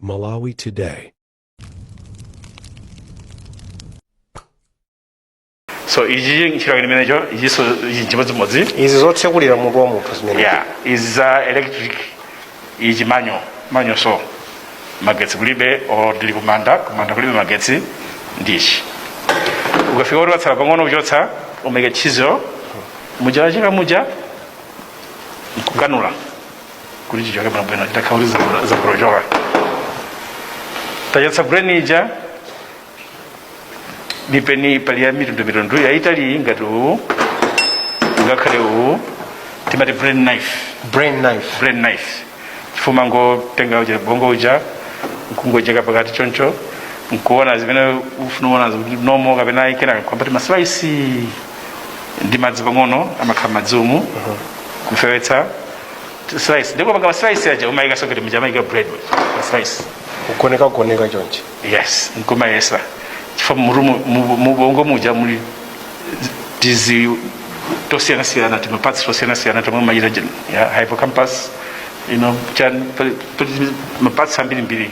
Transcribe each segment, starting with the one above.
Malawi Today. so ichi nchira chimenecho ichinso ichi chimodzimodzi izi zotsekulira mutu wa munthu zimene yeah izi za electric ichi manual manual so magetsi kulibe or ndili kumanda kumanda kulibe magetsi ndichi ukafika kuti patsala pang'ono kuchotsa umaika chisel muja wacheka muja nkukanula kuti chichoke bwinobwino chitakhala kuti zibro- zibrochoka tachotsa brain ija mipeni pali ya mitundumitundu yaitali ngati uwu ngakhale uwu timati brain knife brain knife brain knife chifukwa umangotenga uja bongo uja nkungocheka pakati choncho nkuona zimene ufuna kuonazo kuti normal kapena ayi kenaka kuyamba tima slices ndi madzi pang'ono amakhala m'madzimu kufewetsa slice ndipo panga slice aja umayika so ngati muja amayika bread pa slice kugoneka kugoneka chonchi yes nkumayesa chifukwa murumu mu- mubongo muja muli tizi tosiyana siyana tima parts tosiyana siyana tomwe mayira ujeni ya hippocampus you know chani ma parts ambiri mbiri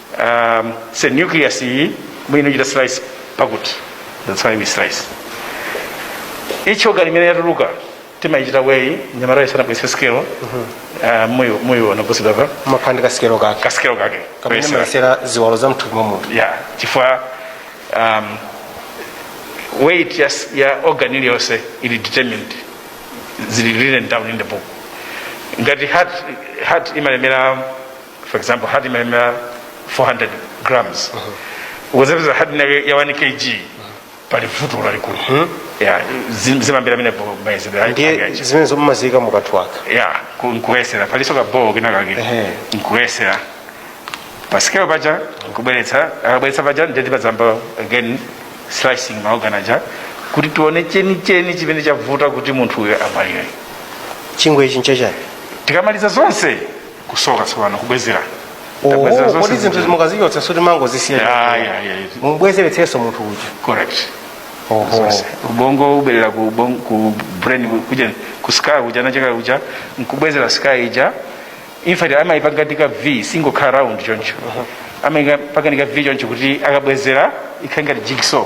um, say nucleus iyi mwino chita slice pakuti that's why we slice each organ imene yatuluka timayichita weigh anyamatawo sanabwese sikelo uh, muyo muyo anaposedwa pamakhala ndi kasikelo kake kasikelo kake kamene Kuyesera. amayesera ziwalo za mthupi mwa munthu yeah chifukwa um, weight ya, s- ya organ iliyonse ili determined zili written down in the book ngati heart, heart imalemera for example heart imalemera 400 grams ukazapeza heart inake ya 1 kg pali vuto lalikulu yeah zim- zimayambira pamenepo mayezedwe ndiye zimenezo mumaziyika mukatwaka ya ku- nkuyesera palinso ka bowl kenakake Ehe. nkuyesera pasikelo paja nkubweretsa akabweretsa paja nde timazayamba again slicing ma organ aja kuti tione chenicheni chimene chavuta kuti munthu uyo amwalire chingwe ichi nchachani tikamaliza zonse kusoka tsopano kubwezera Oh, Tabwezera zonse kodi zinthu zimene- zi mukazichotsa sikuti mumango Yeah, zisiya yeah, yeah, yeah. mubwezeretsenso munthu uja correct Oho. Zonse. ubongo ubwerera ku ubon- ku brain ku- kuja ku skull kuja nacheka kuja nkubwezera skull ija in fact amayipanga ngati ka v singokhala round choncho amayipanga ngati ka v choncho kuti akabwezera ikhale ngati jigsaw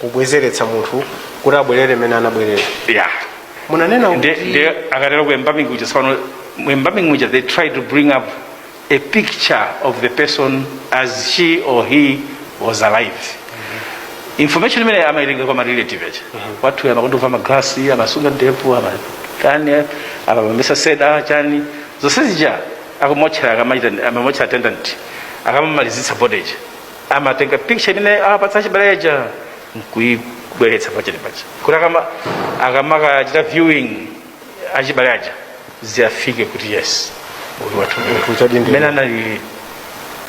kubwezeretsa munthu kuti abwerere mmene anabwerera ya munanena kuti nde akatero ku embalming kuja sipano mu embalming muja they try to bring up a picture of the person as she or he was alive information imene amaitenga kwa marelative aja wathu amakondavala maglasi amasunga ndevu amakana amapesa seda chani zonse zija aku mortuary akamachita a mortuary attendant akamamalizitsa body ija amatenga picha imene awapatsa achibale aja nkuibweretsa pachest paja kuti akama akamakachita viewing achibale aja ziyafike kuti yes uyu wathu mmene anali